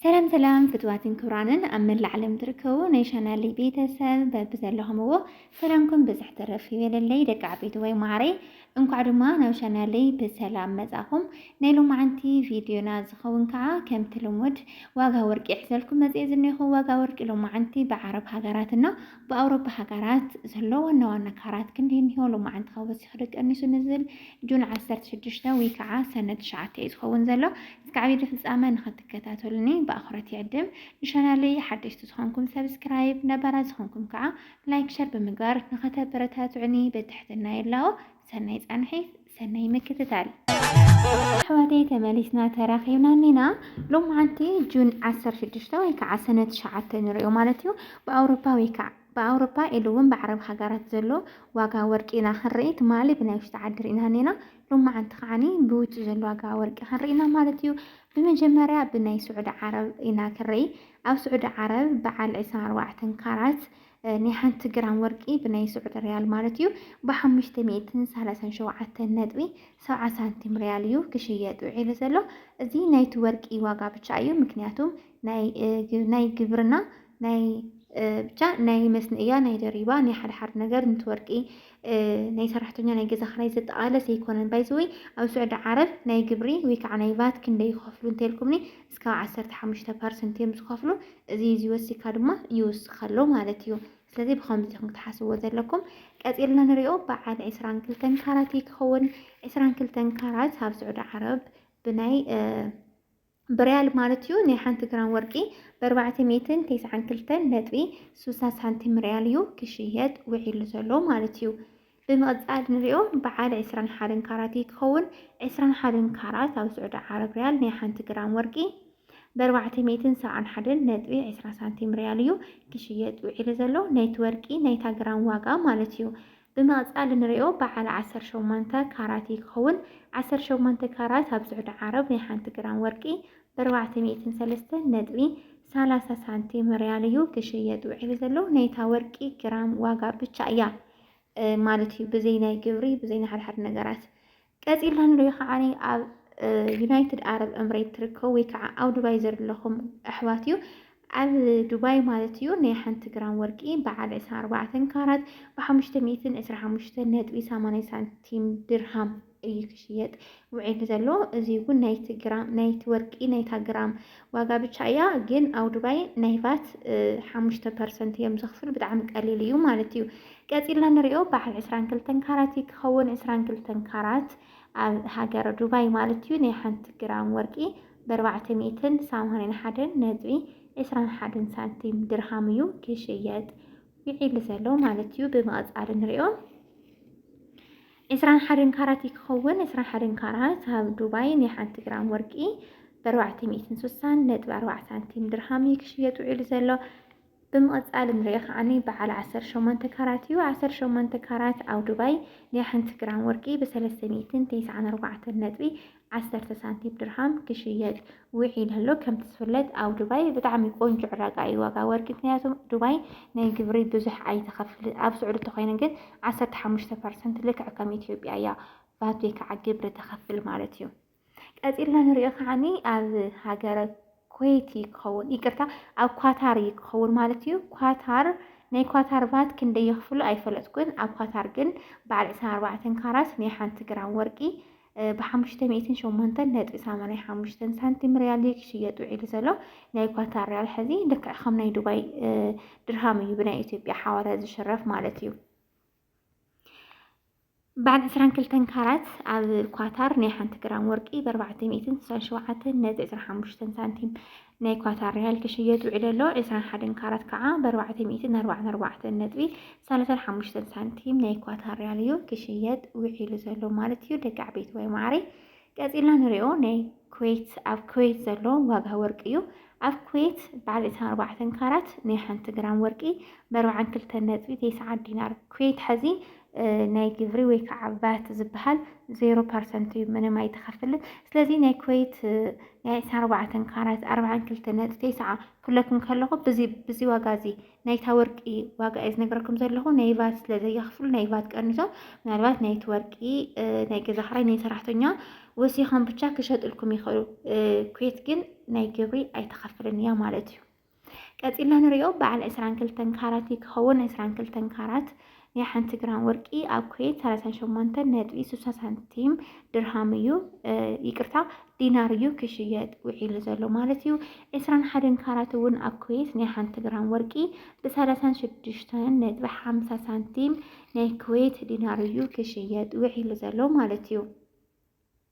ሰላም ሰላም ፍትዋትን ክብራንን ኣብ መላእ ዓለም ትርከቡ ናይ ቻናለይ ቤተሰብ በብዘለኹምዎ ሰላምኩም ብዝሕ ትረፍ ይበለለይ ደቂ ዓበይቲ ወይ ማዕረይ እንኳዕ ድማ ናብ ቻናለይ ብሰላም መጻኹም ናይ ሎማዓንቲ ቪድዮና ዝኸውን ከዓ ከምቲ ልሙድ ዋጋ ወርቂ ይሕዘልኩም መጽኤ ዝኔኹ ዋጋ ወርቂ ሎማዓንቲ ብዓረብ ሃገራትና ብኣውሮፓ ሃገራት ዘሎ ዋና ዋና ካራት ክንዲ እኒሆ ሎማዓንቲ ካብ ወሲኹ ደቀኒሱ ንዝል ጁን 16 ወይ ከዓ ሰነ 9 እዩ ዝኸውን ዘሎ እስከ ዓብይቲ ፍፃመ ንክትከታተሉኒ ብኣኽብሮት ይዕድም። ንቻናለይ ሓደሽቲ ዝኾንኩም ሰብስክራይብ፣ ነባራት ዝኾንኩም ከዓ ላይክ ሸር ብምግባር ንኸተበረታትዑኒ ብትሕትና ይላቦ። ሰናይ ፃንሒት ሰናይ ምክትታል። ኣሕዋተይ ተመሊስና ተራኺብና እኒና ሎማዓንቲ ጁን ዓሰርተ ሽዱሽተ ወይ ከዓ ሰነ ትሽዓተ ንሪኦ ማለት እዩ ብኣውሮፓ ወይ ከዓ ብኣውሮፓ ኢሉ እውን ብዓረብ ሃገራት ዘሎ ዋጋ ወርቂ ኢና ክንርኢ ትማሊ ብናይ ውሽጢ ዓዲ ርኢና እኒና ሎማዓንቲ ከዓኒ ብውጪ ዘሎ ዋጋ ወርቂ ክንርኢ ኢና ማለት እዩ። ብመጀመርያ ብናይ ስዑዲ ዓረብ ኢና ክንርኢ። ኣብ ስዑዲ ዓረብ በዓል ዕስራን ኣርባዕተን ካራት ናይ ሓንቲ ግራም ወርቂ ብናይ ስዑዲ ሪያል ማለት እዩ ብሓሙሽተ ሚእትን ሰላሳን ሸውዓተን ነጥቢ ሰብዓ ሳንቲም ሪያል እዩ ክሽየጥ ውዒሉ ዘሎ። እዚ ናይቲ ወርቂ ዋጋ ብቻ እዩ ምክንያቱም ናይ ግብርና ናይ ብቻ ናይ መስንእያ ናይ ደሪባ ናይ ሓደ ሓደ ነገር ንቲ ወርቂ ናይ ሰራሕተኛ ናይ ገዛ ክራይ ዘጠቓለስ ኣይኮነን ባይዘወይ ኣብ ስዑዲ ዓረብ ናይ ግብሪ ወይ ከዓ ናይ ቫት ክንደይ ይኸፍሉ እንተልኩምኒ እስካብ ዓሰርተ ሓሙሽተ ፐርሰንት እዮም ዝኸፍሉ እዚ እዚ ወሲካ ድማ ይውስኽ ኣሎ ማለት እዩ ስለዚ ብከምዚ ኢኹም ክትሓስብዎ ዘለኩም ቀፂልና ንሪኦ በዓል ዕስራን ክልተን ካራት ክኸውን ዕስራን ክልተን ካራት ኣብ ስዑዲ ዓረብ ብናይ ብርያል ማለት እዩ። ናይ ሓንቲ ግራም ወርቂ ብኣርባዕተ ሚእትን ተስዓን ክልተን ነጥቢ ስሳ ሳንቲም ርያል እዩ ክሽየጥ ውዒሉ ዘሎ ማለት እዩ። ብምቕጻል ንሪኦ በዓል ዕስራን ሓደን ካራት እዩ ክኸውን። ዕስራን ሓደን ካራት ኣብ ስዑዲ ዓረብ ርያል ናይ ሓንቲ ግራም ወርቂ ብኣርባዕተ ሚእትን ሰብዓን ሓደን ነጥቢ ዕስራ ሳንቲም ርያል እዩ ክሽየጥ ውዒሉ ዘሎ። ናይቲ ወርቂ ናይታ ግራም ዋጋ ማለት እዩ። ብማእጻ ልንሪኦ ብዓል ዓሰርተ ሸሞንተ ካራት እዩ ክኸውን። ዓሰርተ ሸሞንተ ካራት ኣብ ስዑዲ ዓረብ ናይ ሓንቲ ግራም ወርቂ ብኣርባዕተ ሚእትን ሰለስተን ነጥቢ ሰላሳ ሳንቲም ሪያል እዩ ክሽየጥ ውዒሉ ዘሎ። ናይታ ወርቂ ግራም ዋጋ ብቻ እያ ማለት እዩ ብዘይ ናይ ግብሪ ብዘይ ናይ ሓድሓድ ነገራት። ቀጺልና ንሪኦ ከዓኒ ኣብ ዩናይትድ ዓረብ እምሬት ትርከቡ ወይ ከዓ ኣብ ዱባይ ዘለኹም ኣሕዋት እዩ ኣብ ዱባይ ማለት እዩ ናይ ሓንቲ ግራም ወርቂ በዓል 24 ካራት ብ525.80 ሳንቲም ድርሃም እዩ ክሽየጥ ውዒሉ ዘሎ እዚ እውን ናይቲ ግራም ናይቲ ወርቂ ናይታ ግራም ዋጋ ብቻ እያ ግን ኣብ ዱባይ ናይ ቫት ሓሙሽተ ፐርሰንት እዮም ዘኽፍሉ ብጣዕሚ ቀሊል እዩ ማለት እዩ። ቀፂልና ንሪኦ በዓል ዕስራን ክልተን ካራት እዩ ክኸውን ዕስራን ክልተን ካራት ኣብ ሃገረ ዱባይ ማለት እዩ ናይ ሓንቲ ግራም ወርቂ በርባዕተ ሚእትን ሰማንያን ሓደን ነጥቢ ዕስራን ሓደን ሳንቲም ድርሃም እዩ ክሽየጥ ውዒሉ ዘሎ ማለት እዩ። ብምቕፃል ንሪኦ ዕስራን ሓደን ካራት እዩ ክኸውን። ዕስራን ሓደን ካራት ኣብ ዱባይ ናይ ሓንቲ ግራም ወርቂ ብኣርባዕተ ሚእትን ሱሳን ነጥቢ ኣርባዕተ ሳንቲም ድርሃም እዩ ክሽየጥ ውዒሉ ዘሎ። ብምቕጻል እንሪኦ ከዓኒ በዓል ዓሰርተ ሸሞንተ ካራት እዩ። ዓሰርተ ሸሞንተ ካራት ኣብ ዱባይ ናይ ሓንቲ ግራም ወርቂ ብሰለስተ ሚእትን ተስዓን ኣርባዕተን ነጥቢ ዓሰርተ ሳንቲም ድርሃም ክሽየጥ ውዒሉ ኣሎ። ከምቲ ዝፍለጥ ኣብ ዱባይ ብጣዕሚ ቆንጆ ዕዳጋ እዩ ዋጋ ወርቂ። ምክንያቱም ዱባይ ናይ ግብሪ ብዙሕ ኣይተኸፍልን። ኣብ ስዑዲ እንተኮይኑ ግን ዓሰርተ ሓሙሽተ ፐርሰንት ልክዕ ከም ኢትዮጵያ እያ ቫት ወይ ከዓ ግብሪ ተኸፍል ማለት እዩ። ቀፂልና ንሪኦ ከዓኒ ኣብ ሃገረ ኩዌቲ ክኸውን ይቅርታ፣ ኣብ ኳታር እዩ ክኸውን ማለት እዩ። ኳታር ናይ ኳታር ቫት ክንደይ የኽፍሉ ኣይፈለጥኩን። ኣብ ኳታር ግን በዓል ዕስራን ኣርባዕተን ካራት ናይ ሓንቲ ግራም ወርቂ ብሓሙሽተ ሚእትን ሸሞንተን ነጥቢ ሰማንያ ሓሙሽተን ሳንቲም ሪያል እዩ ክሽየጥ ውዒሉ ዘሎ ናይ ኳታር ሪያል ሕዚ ልክዕ ከም ናይ ዱባይ ድርሃም እዩ ብናይ ኢትዮጵያ ሓዋላ ዝሽረፍ ማለት እዩ በዓል ዕስራን ክልተን ካራት ኣብ ኳታር ናይ ሓንቲ ግራም ወርቂ ብኣርባዕተ ሚእትን ስሳን ሸውዓተን ነጥቢ ዕስራ ሓሙሽተን ሳንቲም ናይ ኳታር ሪያል ክሽየጥ ውዒሉ ኣሎ። ዕስራን ሓደን ካራት ከዓ ብኣርባዕተ ሚእትን ኣርባዓን ኣርባዕተን ነጥቢ ሳላሳን ሓሙሽተን ሳንቲም ናይ ኳታር ሪያል እዩ ክሽየጥ ውዒሉ ዘሎ ማለት እዩ። ደቂ ዓበይቲ ወይ ማዕረይ ቀፂልና ንሪኦ ናይ ኩዌት ኣብ ኩዌት ዘሎ ዋጋ ወርቂ እዩ። ኣብ ኩዌት በዓል ዕስራን ኣርባዕተን ካራት ናይ ሓንቲ ግራም ወርቂ ብኣርባዓን ክልተን ነጥቢ ተስዓን ዲናር ኩዌት ሐዚ ናይ ግብሪ ወይ ከዓ ቫት ዝበሃል ዜሮ ፐርሰንት እዩ፣ ምንም ኣይትኸፍልን። ስለዚ ናይ ኩዌት ናይ ዕስራን ኣርባዕተን ካራት ኣርብዓን ክልተ ነጥቢ ተስዓ ክብለኩም ከለኹ ብዚ ብዚ ዋጋ እዚ ናይታ ወርቂ ዋጋ እየ ዝነግረኩም ዘለኹ። ናይ ቫት ስለ ዘየኽፍሉ ናይ ቫት ቀንሶም ምናልባት ናይቲ ወርቂ ናይ ገዛ ክራይ ናይ ሰራሕተኛ ወሲኾም ብቻ ክሸጥልኩም ይኽእሉ። ኩዌት ግን ናይ ግብሪ ኣይትኸፍልን እያ ማለት እዩ። ቀፂልና ንሪኦ በዓል ዕስራን ክልተን ካራት እዩ ክኸውን። ዕስራን ክልተን ካራት ናይ ሓንቲ ግራም ወርቂ ኣብ ኩዌት ሰላሳን ሸሞንተን ነጥቢ ስሳ ሳንቲም ድርሃም እዩ ይቅርታ ዲናር እዩ ክሽየጥ ውዒሉ ዘሎ ማለት እዩ። ዕስራን ሓደን ካራት እውን ኣብ ኩዌት ናይ ሓንቲ ግራም ወርቂ ብሰላሳን ሽዱሽተን ነጥቢ ሓምሳ ሳንቲም ናይ ኩዌት ዲናር እዩ ክሽየጥ ውዒሉ ዘሎ ማለት እዩ።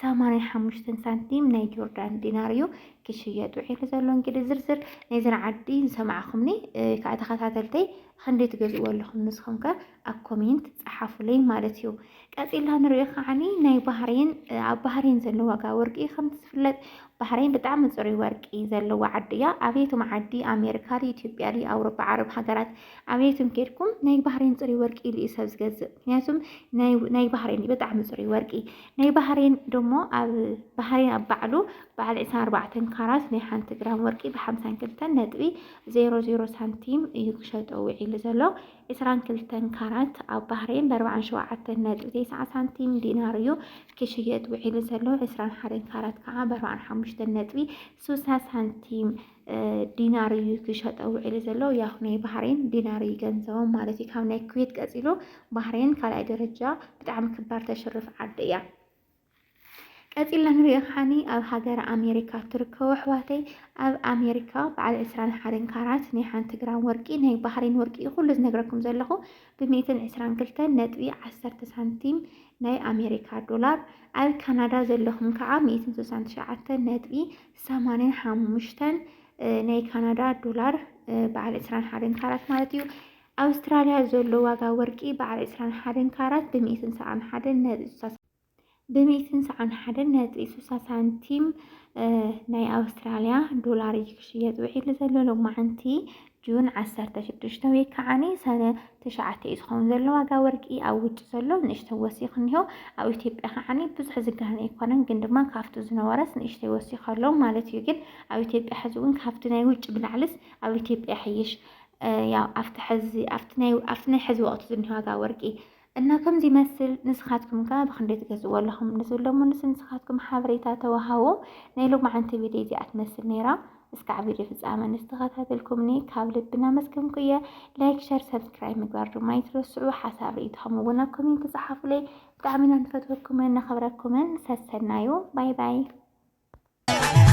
ሰማንያ ሓሙሽተን ሳንቲም ናይ ጆርዳን ዲናር እዩ ክሽየጥ ውዒሉ ዘሎ። እንግዲህ ዝርዝር ናይዘን ዓዲ ዝሰማዕኹምኒ ከዓ ተኸታተልተይ ክንደይ ትገዝእዎ ኣለኹም ንስኹም ከ ኣብ ኮሜንት ፀሓፉለይ ማለት እዩ። ቀፂላ ንሪኦ ከዓኒ ናይ ባህሬን ኣብ ባህሬን ዘሎ ዋጋ ወርቂ ከምቲ ዝፍለጥ ባህሬን ብጣዕሚ ፅሩይ ወርቂ ዘለዎ ዓዲ እያ። ኣብየቱም ዓዲ ኣሜሪካ ድዩ ኢትዮጵያ ድዩ ኣውሮፓ ዓረብ ሃገራት ኣብየቱም ኬድኩም ናይ ባህሬን ፅሩይ ወርቂ ኢሉ እዩ ሰብ ዝገዝእ። ምክንያቱም ናይ ባህሬን ብጣዕሚ ፅሩይ ወርቂ ናይ ባህሬን ደሞ ኣብ ባህሬን ኣብ ባዕሉ በዓል ዕስራን ኣርባዕተን ካራት ናይ ሓንቲ ግራም ወርቂ ብሓምሳን ክልተን ነጥቢ ዜሮ ዜሮ ሳንቲም እዩ ክሸጦ ውዒሉ ዘሎ። ዕስራን ክልተን ካራት ኣብ ባህሬን ብኣርባዓን ሸውዓተን ነጥቢ ተስዓ ሳንቲም ዲናር እዩ ክሽየጥ ውዒሉ ዘሎ። ዕስራን ሓደን ካራት ከዓ ብኣርባዓን ሓሙሽተን ነጥቢ ስሳ ሳንቲም ዲናር እዩ ክሸጠ ውዒሉ ዘሎ ያው ናይ ባህሬን ዲናር እዩ ገንዘቦም ማለት እዩ ካብ ናይ ኩዌት ቀፂሎ ባህሬን ካልኣይ ደረጃ ብጣዕሚ ክባር ተሽርፍ ዓዲ እያ ቀፂልና ንሪኦ ሓኒ ኣብ ሃገር ኣሜሪካ ትርከቡ ኣሕዋተይ ኣብ ኣሜሪካ በዓል ዕስራን ሓደን ካራት ናይ ሓንቲ ግራም ወርቂ ናይ ባህሬን ወርቂ እዩ ኩሉ ዝነግረኩም ዘለኹ ብሚእትን ዕስራን ክልተን ነጥቢ ዓሰርተ ሳንቲም ናይ ኣሜሪካ ዶላር ኣብ ካናዳ ዘለኹም ከዓ ሚእትን ስሳን ትሽዓተ ነጥቢ ሰማንያን ሓሙሽተን ናይ ካናዳ ዶላር በዓል ዕስራን ሓደን ካራት ማለት እዩ። ኣውስትራልያ ዘሎ ዋጋ ወርቂ በዓል ዕስራን ሓደን ካራት ብሚእትን ሰዓን ሓደን ነጥቢ ሱሳ ብሚእትን ሰዓን ሓደን ነጥቢ ሱሳ ሳንቲም ናይ ኣውስትራልያ ዶላር እዩ ክሽየጥ ውዒሉ ዘሎ ሎማዓንቲ ጁን ዓሰርተ ሽዱሽተ ወይ ከዓኒ ሰነ ትሽዓተ እዩ ዝኸውን ዘሎ ዋጋ ወርቂ ኣብ ውጭ ዘሎ ንእሽተይ ወሲኹ እኒሆ ኣብ ኢትዮጵያ ከዓኒ ብዙሕ ዝጋነ ኣይኮነን ግን ድማ ካብቲ ዝነበረስ ንእሽተይ ወሲኹ ኣሎ ማለት እዩ ግን ኣብ ኢትዮጵያ ሕዚ እውን ካብቲ ናይ ውጭ ብላዕልስ ኣብ ኢትዮጵያ ይሕይሽ ያው ኣብቲ ሕዚ ኣብቲ ናይ ኣብቲ ናይ ሕዚ ወቕቲ ዝኒሆ ዋጋ ወርቂ እና ከምዚ ይመስል ንስኻትኩም ከ ብክንደይ ትገዝእዎ ኣለኹም ንዝብሎ ምንስ ንስኻትኩም ሓበሬታ ተዋሃቡ ናይ ሎማዓንቲ ቪድዮ እዚኣ ትመስል ነይራ እስካዕ ቪድዮ ፍጻመ ንዝተኸታተልኩምኒ ካብ ልቢ እናመስገንኩ እየ ላይክ ሸር ሰብስክራይብ ምግባር ድማ ኣይትረስዑ ሓሳብ ርእይቶኹም እውን ኣብ ኮሜንት ጸሓፉለይ ብጣዕሚ ኢና ንፈትወኩምን ነኽብረኩምን ሰሰናዩ ባይ ባይ